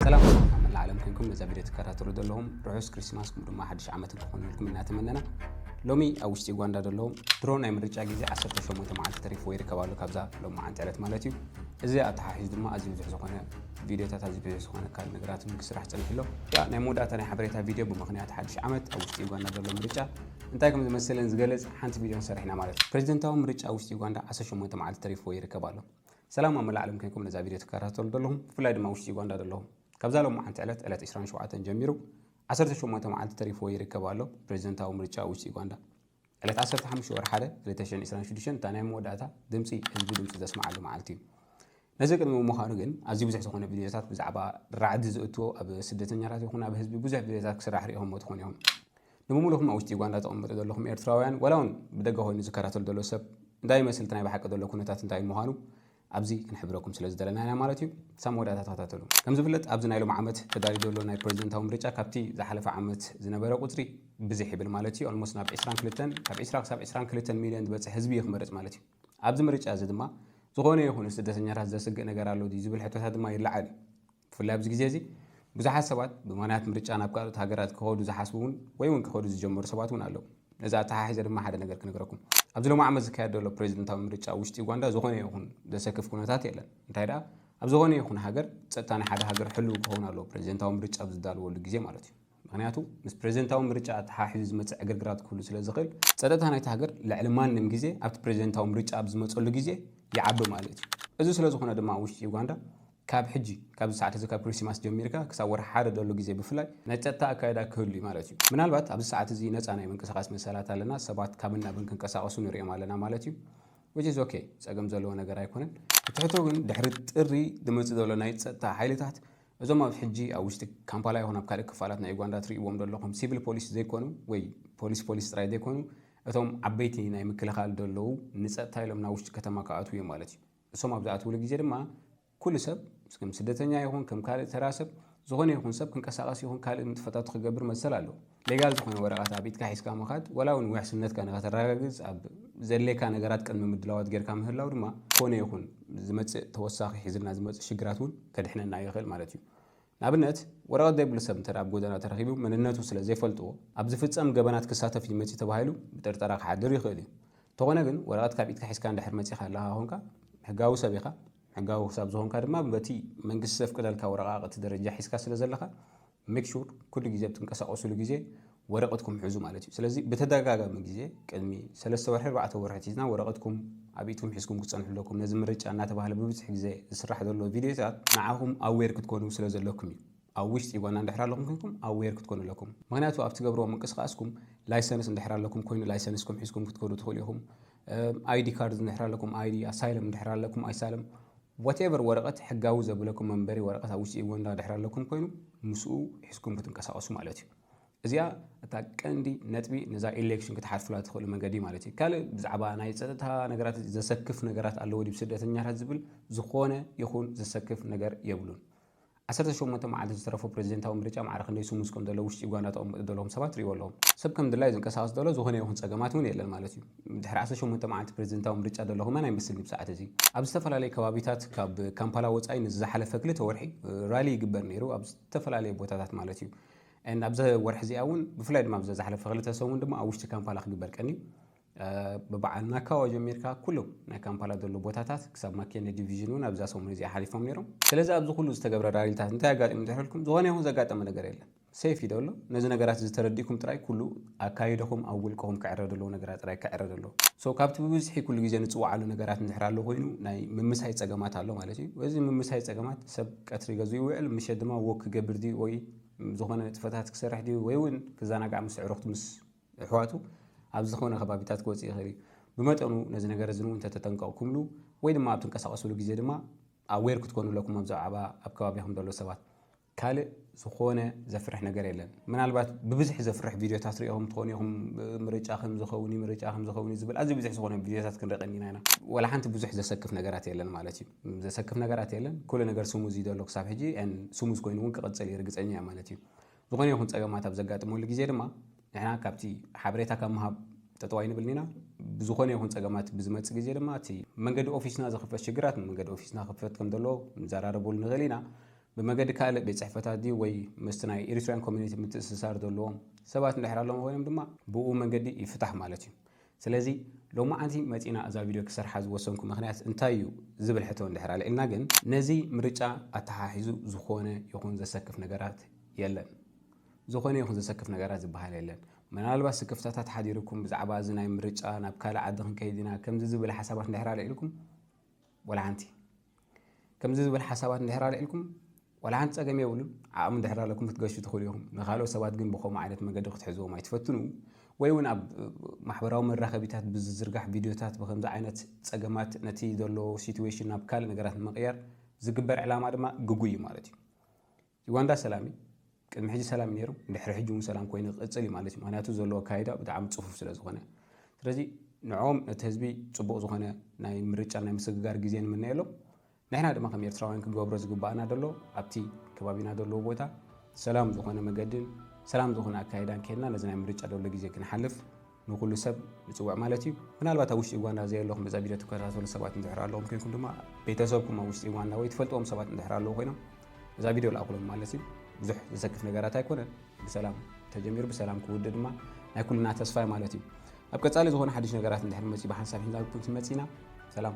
ሰላም ኣብ መላእ ዓለም ኮንኩም ነዛ ቪድዮ ትከታተሉ ዘለኹም ርሑስ ክሪስማስ ከምኡ ድማ ሓድሽ ዓመት ክኾነልኩም እናተመነና ሎሚ ኣብ ውሽጢ ዩጋንዳ ዘለዉ ድሮ ናይ ምርጫ ግዜ 18 መዓልቲ ተሪፍዎ ይርከብ ኣሎ ካብዛ ሎም መዓንቲ ዕለት ማለት እዩ እዚ ኣተሓሒዙ ድማ ኣዝዩ ብዙሕ ዝኾነ ቪድዮታት ኣዝዩ ብዙሕ ዝኾነ ካል ነገራት ክስራሕ ፀኒሑ ኣሎ ናይ መወዳእታ ናይ ሓበሬታ ቪድዮ ብምክንያት ሓድሽ ዓመት ኣብ ውሽጢ ዩጋንዳ ዘሎ ምርጫ እንታይ ከም ዝመስልን ዝገልጽ ሓንቲ ቪድዮን ሰሪሕና ማለት እዩ። ፕሬዚደንታዊ ምርጫ ውሽጢ ዩጋንዳ 18 መዓልቲ ተሪፍዎ ይርከብ ኣሎ። ሰላም ኣብ መላእ ዓለም ኮይንኩም ነዛ ቪድዮ ትከታተሉ ዘለኹም ብፍላይ ድማ ውሽጢ ዩጋንዳ ዘለኹም ካብዛ ሎማዓንቲ ዕለት ዕለት 27 ጀሚሩ 18 መዓልቲ ተሪፍዎ ይርከብ ኣሎ ፕሬዚደንታዊ ምርጫ ውሽጢ ዩጋንዳ ዕለት 15 ወር 1 2026 እታ ናይ መወዳእታ ድምፂ ህዝቢ ድምፂ ዘስምዓሉ መዓልቲ እዩ። ነዚ ቅድሚ ምዃኑ ግን ኣዝዩ ብዙሕ ዝኾነ ቪድዮታት ብዛዕባ ራዕዲ ዝእትዎ ኣብ ስደተኛታት ይኹን ኣብ ህዝቢ ብዙሕ ቪድዮታት ክስራሕ ሪኢኹምዎ ትኾኑ ኢኹም ንብሙሉኹም ኣብ ውሽጢ ዩጋንዳ ትቕመጡ ዘለኹም ኤርትራውያን ዋላ ውን ብደገ ኮይኑ ዝከታተል ዘሎ ሰብ እንታይ ይመስል እቲ ናይ ብሓቂ ዘሎ ኩነታት እንታይ ምዃኑ ኣብዚ ክንሕብረኩም ስለ ዝደለና ኢና ማለት እዩ ክሳብ መወዳእታ ተኸታተሉ ከም ዝፍለጥ ኣብዚ ናይ ሎም ዓመት ተዳልዩ ዘሎ ናይ ፕሬዚደንታዊ ምርጫ ካብቲ ዝሓለፈ ዓመት ዝነበረ ቁፅሪ ብዝሕ ይብል ማለት እዩ ኦልሞስት ናብ 22 ካብ 20 ክሳብ 22 ሚሊዮን ዝበፅሕ ህዝቢ እዩ ክመርፅ ማለት እዩ ኣብዚ ምርጫ እዚ ድማ ዝኾነ ይኹን ንስደተኛታት ዘስግእ ነገር ኣሎ ድዩ ዝብል ሕቶታት ድማ ይለዓል እዩ ብፍላይ ኣብዚ ግዜ እዚ ብዙሓት ሰባት ብማንያት ምርጫ ናብ ካልኦት ሃገራት ክኸዱ ዝሓስቡ እውን ወይ እውን ክኸዱ ዝጀመሩ ሰባት እውን ኣለዉ። ነዚ ኣተሓሒዘ ድማ ሓደ ነገር ክነግረኩም። ኣብዚ ሎሚ ዓመት ዝካየድ ዘሎ ፕረዚደንታዊ ምርጫ ኣብ ውሽጢ ዩጋንዳ ዝኾነ ይኹን ዘሰክፍ ኩነታት የለን። እንታይ ደኣ ኣብ ዝኾነ ይኹን ሃገር ጸጥታ ናይ ሓደ ሃገር ሕሉው ክኸውን ኣለዎ፣ ፕረዚደንታዊ ምርጫ ኣብ ዝዳልወሉ ግዜ ማለት እዩ። ምኽንያቱ ምስ ፕረዚደንታዊ ምርጫ ኣተሓሒዙ ዝመጽእ ዕግርግራት ክህሉ ስለ ዝኽእል፣ ጸጥታ ናይታ ሃገር ልዕሊ ማንም ግዜ ኣብቲ ፕረዚደንታዊ ምርጫ ኣብ ዝመጸሉ ግዜ ይዓቢ ማለት እዩ። እዚ ስለ ዝኾነ ድማ ኣብ ውሽጢ ዩጋንዳ ካብ ሕጂ ካብዚ ሰዓት እዚ ካብ ክሪስቲማስ ጀሚርካ ክሳብ ወርሒ ሓደ ደሎ ግዜ ብፍላይ ናይ ጸጥታ ኣካይዳ ክህሉ እዩ ማለት እዩ። ምናልባት ኣብዚ ሰዓት እዚ ነጻ ናይ ምንቅስቓስ መሰላት ኣለና፣ ሰባት ካብን ናብን ክንቀሳቐሱ ንርእዮም ኣለና ማለት እዩ። which is ok ጸገም ዘለዎ ነገር ኣይኮነን። እቲ ሕቶ ግን ድሕሪ ጥሪ ዝመጽእ ዘሎ ናይ ጸጥታ ሓይልታት እዞም ኣብ ሕጂ ኣብ ውሽጢ ካምፓላ ይኹን ኣብ ካልእ ክፋላት ናይ ኡጋንዳ ትርእይዎም ደለኹም ሲቪል ፖሊስ ዘይኮኑ ወይ ፖሊስ ፖሊስ ጥራይ ዘይኮኑ እቶም ዓበይቲ ናይ ምክልኻል ደለዉ ንጸጥታ ኢሎም ናብ ውሽጢ ከተማ ክኣትዉ እዮም ማለት እዩ። እሶም ኣብ ዝኣትዉሉ ግዜ ድማ ኩሉ ሰብ ከም ስደተኛ ይኹን ከም ካልእ ተራ ሰብ ዝኾነ ይኹን ሰብ ክንቀሳቐስ ይኹን ካልእ ንጥፈታቱ ክገብር መሰል ኣለዎ። ሌጋል ዝኾነ ወረቐት ኣብ ኢድካ ሒዝካ ምኻድ ዋላ እውን ውሕስነትካ ንኸተረጋግጽ ኣብ ዘድልየካ ነገራት ቅድመ ምድላዋት ጌርካ ምህላው ድማ ኮነ ይኹን ዝመጽእ ተወሳኺ ሒዝልና ዝመጽእ ሽግራት እውን ከድሕነና ይኽእል ማለት እዩ። ንኣብነት ወረቐት ዘይብሉ ሰብ እንተ ኣብ ጎደና ተረኺቡ መንነቱ ስለ ዘይፈልጥዎ ኣብ ዝፍጸም ገበናት ክሳተፍ እዩ መጺኡ ተባሂሉ ብጥርጠራ ክሓድር ይኽእል እዩ። እንተኾነ ግን ወረቐት ካብ ኢድካ ሒዝካ እንድሕር መጺእካ ኣለኻ ኮንካ ሕጋዊ ሰብ ኢኻ። ሕጋዊ ክሳብ ዝኾንካ ድማ በቲ መንግስቲ ዘፍቅደልካ ወረቓቕቲ ደረጃ ሒዝካ ስለ ዘለኻ Make sure ኩሉ ግዜ ኣብ ትንቀሳቀሱሉ ግዜ ወረቅትኩም ሕዙ ማለት እዩ ስለዚ ብተደጋጋሚ ግዜ ቅድሚ ሰለስተ ወርሒ ኣርባዕተ ወርሒ ሒዝና ወረቅትኩም ኣብ ኢድኩም ሒዝኩም ክትጸንሑ ኣለኩም ነዚ ምርጫ እናተባህለ ብብዝሒ ግዜ ዝስራሕ ዘሎ ቪድዮታት ንዓኹም ኣዌር ክትኮኑ ስለ ዘለኩም እዩ ኣብ ውሽጢ ዩጋንዳ እንድሕር ኣለኹም ኮይንኩም ኣዌር ክትኮኑ ኣለኩም ምክንያቱ ኣብ ትገብርዎ ምንቅስቃስኩም ላይሰንስ እንድሕር ኣለኩም ኮይኑ ላይሰንስኩም ሒዝኩም ክትከዱ ትኽእሉ ኢኹም ኣይዲ ካርድ እንድሕር ኣለኩም ኣይዲ ኣሳይለም እንድሕር ኣለኩም ኣይሳለም ዋትኤቨር ወረቐት ሕጋዊ ዘብለኩም መንበሪ ወረቐት ኣብ ውሽጢ ዩጋንዳ ድሕር ኣለኩም ኮይኑ ምስኡ ሒዝኩም ክትንቀሳቀሱ ማለት እዩ እዚኣ እታ ቀንዲ ነጥቢ ነዛ ኤሌክሽን ክትሓልፉላ ትኽእሉ መንገዲ ማለት እዩ ካልእ ብዛዕባ ናይ ፀጥታ ነገራት ዘሰክፍ ነገራት ኣለዎ ድብ ስደተኛታት ዝብል ዝኾነ ይኹን ዘሰክፍ ነገር የብሉን ዓሰርተ ሸሞንተ መዓልቲ ዝተረፎ ፕረዚደንታዊ ምርጫ ማዕረ ክንደይ ስሙዝ ከም ዘሎ ውሽጢ ዩጋንዳ ተቐምጡ ዘለኹም ሰባት ርእይዎ ኣለኹም። ሰብ ከም ድላዩ ዝንቀሳቐስ ተሎ ዝኾነ ይኹን ጸገማት እውን የለን ማለት እዩ። ድሕሪ ዓሰርተ ሸሞንተ መዓልቲ ፕረዚደንታዊ ምርጫ ዘሎ ከማን ኣይመስልን ብሰዓት እዚ። ኣብ ዝተፈላለየ ከባቢታት ካብ ካምፓላ ወጻኢ ንዚ ዝሓለፈ ክልተ ወርሒ ራሊ ይግበር ነይሩ ኣብ ዝተፈላለየ ቦታታት ማለት እዩ። and ኣብዛ ወርሒ እዚኣ እውን ብፍላይ ድማ ኣብዛ ዝሓለፈ ክልተ ሰሙን ድማ ኣብ ውሽጢ ካምፓላ ክግበር ቀንዩ። ብበዓል ናካዋ ጀሚርካ ኩሉ ናይ ካምፓላ ዘሎ ቦታታት ክሳብ ማኬነ ዲቪዥን እውን ኣብዛ ሰሙን እዚኣ ሓሊፎም ነይሮም። ስለዚ ኣብዚ ኩሉ ዝተገብረ ራሊታት እንታይ ኣጋጢሙ እንተይሕልኩም ዝኾነ ይኹን ዘጋጠመ ነገር የለን። ሰይፍ እዩ ደሎ ነዚ ነገራት እዚ ተረዲእኩም ጥራይ ኩሉ ኣካይደኹም ኣብ ውልቅኹም ክዕረ ደለዎ ነገራት ጥራይ ክዕረ ደሎ። So ካብቲ ብብዝሒ ኩሉ ግዜ ንጽውዓሉ ነገራት እንድሕር ኣሎ ኮይኑ ናይ ምምሳይ ጸገማት ኣሎ ማለት እዩ። እዚ ምምሳይ ጸገማት ሰብ ቀትሪ ገዝኡ ይውዕል ምሸት ድማ Walk ክገብር ድዩ ወይ ዝኾነ ንጥፈታት ክሰርሕ ድዩ ወይ እውን ክዘናጋዕ ምስ ኣዕሩኽቱ ምስ እሕዋቱ ኣብ ዝኾነ ከባቢታት ክወፅእ ይኽእል እዩ። ብመጠኑ ነዚ ነገር እዚ እንተተጠንቀቕኩምሉ ወይ ድማ ኣብ ትንቀሳቐሱሉ ግዜ ድማ ኣዌር ክትኮኑ ኣለኩም ኣብ ዛዕባ ኣብ ከባቢኹም ዘሎ ሰባት። ካልእ ዝኾነ ዘፍርሕ ነገር የለን። ምናልባት ብብዝሒ ዘፍርሕ ቪድዮታት ሪኢኹም ትኾኑ ኢኹም ምርጫ ከም ዝኸውን ምርጫ ከም ዝኸውን ዝብል ኣዝዩ ብዙሕ ዝኾነ ቪድዮታት ክንርኢ ቀኒና ኢና። ወላ ሓንቲ ብዙሕ ዘሰክፍ ነገራት የለን ማለት እዩ። ዘሰክፍ ነገራት የለን ኩሉ ነገር ስሙዝ እዩ ዘሎ ክሳብ ሕጂ ስሙዝ ኮይኑ እውን ክቕፅል እዩ ርግፀኛ እየ ማለት እዩ። ዝኾነ ይኹን ጸገማት ኣብ ዘጋጥመሉ ግዜ ድማ ንሕና ካብቲ ሓበሬታ ካብ ምሃብ ጠጠው ኣይንብልን ኢና። ብዝኾነ ይኹን ጸገማት ብዝመጽእ ግዜ ድማ እቲ መንገዲ ኦፊስና ዝኽፈት ሽግራት ንመንገዲ ኦፊስና ክፈት ከም ዘለዎ ክንዘራረበሉ ንኽእል ኢና። ብመገዲ ካልእ ቤት ጽሕፈታት ድዩ ወይ ምስቲ ናይ ኤሪትርያን ኮሚኒቲ ምትእስሳር ዘለዎም ሰባት እንድሕር ኣለዉም ኮይኖም ድማ ብኡ መንገዲ ይፍታሕ ማለት እዩ። ስለዚ ሎማዓንቲ መጺና እዛ ቪድዮ ክሰርሓ ዝወሰንኩ ምክንያት እንታይ እዩ ዝብል ሕቶ እንድሕር ኣልዒልና ግን ነዚ ምርጫ ኣተሓሒዙ ዝኾነ ይኹን ዘሰክፍ ነገራት የለን። ዝኾነ ይኹን ዘሰክፍ ነገራት ዝበሃል የለን። ምናልባት ስክፍታታት ሓዲሩኩም ብዛዕባ እዚ ናይ ምርጫ ናብ ካልእ ዓዲ ክንከይድ ኢና ከምዚ ዝብል ሓሳባት እንድሕር ኣልዒልኩም፣ ዋላ ሓንቲ ከምዚ ዝበል ሓሳባት እንድሕር ኣልዒልኩም ዋላ ሓንቲ ጸገም የብሉን ዓቕሚ እንድሕር ኣለኩም ክትገሹ ትኽእሉ ኢኹም ንካልኦት ሰባት ግን ብከምኡ ዓይነት መገዲ ክትሕዝዎም ኣይትፈትኑ ወይ እውን ኣብ ማሕበራዊ መራኸቢታት ብዝዝርጋሕ ቪድዮታት ብከምዚ ዓይነት ጸገማት ነቲ ዘሎ ሲትዌሽን ናብ ካልእ ነገራት ንምቕያር ዝግበር ዕላማ ድማ ግጉይ እዩ ማለት እዩ ዩጋንዳ ሰላም እዩ ቅድሚ ሕጂ ሰላም እዩ ነይሩ ድሕሪ ሕጂ እውን ሰላም ኮይኑ ክቅፅል እዩ ማለት እዩ ምክንያቱ ዘለዎ ኣካይዳ ብጣዕሚ ፅፉፍ ስለ ዝኾነ ስለዚ ንዕኦም ነቲ ህዝቢ ፅቡቅ ዝኾነ ናይ ምርጫ ናይ ምስግጋር ግዜ ንምነየሎም ንሕና ድማ ከም ኤርትራውያን ክንገብሮ ዝግባኣና ደሎ ኣብቲ ከባቢና ዘለዎ ቦታ ሰላም ዝኾነ መገድን ሰላም ዝኾነ ኣካይዳን ኬድና ነዚ ናይ ምርጫ ደሎ ግዜ ክንሓልፍ ንኹሉ ሰብ ንጽውዕ ማለት እዩ። ምናልባት ኣብ ውሽጢ ዩጋንዳ ዘየለኹም እዛ ቪድዮ ትከታተሉ ሰባት እንድሕር ኣለኹም ኮይንኩም ድማ ቤተሰብኩም ኣብ ውሽጢ ዩጋንዳ ወይ ትፈልጥዎም ሰባት እንድሕር ኣለዉ ኮይኖም እዛ ቪድዮ ልኣኹሎም ማለት እዩ። ብዙሕ ዘሰክፍ ነገራት ኣይኮነን። ብሰላም ተጀሚሩ ብሰላም ክውድእ ድማ ናይ ኩልና ተስፋ እዩ ማለት እዩ። ኣብ ቀጻሊ ዝኾነ ሓድሽ ነገራት እንድሕር መጽኡ ብሓንሳብ ሒዝና ክንመጽእ ኢና። ሰላም